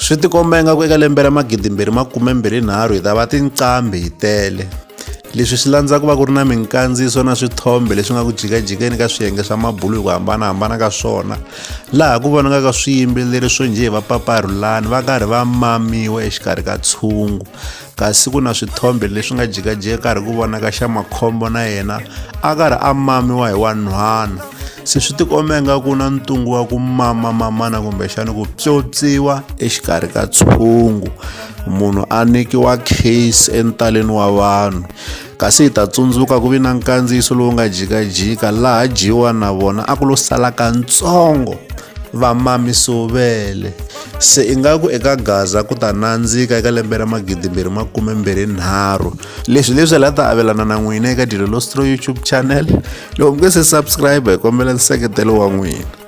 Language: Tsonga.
swi tikomba ingaku eka lembe ra magidimbirhi makumembirhi nharhu hi ta va tinqambi hi tele leswi swi landza ku va ku ri na minkandziyiso na swithombe leswi nga ku jikajikeni ka swiyenge swa mabulu hi ku hambanahambana ka swona laha ku vonakaka swiyimbeleri swo njhe va paparhulani va karhi va mamiwa exikarhi ka tshungu kasi ku na swithombe leswi nga jikajika karhi ku vonaka xa makhombo na yena a karhi a mamiwa hi wanhwana se swi tikomba nga ku na ntungu wa ku mama mamana kumbexana ku pyopyiwa exikarhi ka tshungu munhu a nyikiwa case entaleni wa vanhu kasi hi ta tsundzuka ku vi na nkandziyiso lowu nga jikajika laha jiwa na vona a ku lo sala kantsongo va mamisovele se ingaku eka gaza ku ta nandzika eka lembe ra magidimbirhi makume mbirhi nharhu leswi leswi la ta avelana na n'wina eka dilo lostro youtube channel loko mi nge se subscribe hi kombela nseketelo wa n'wina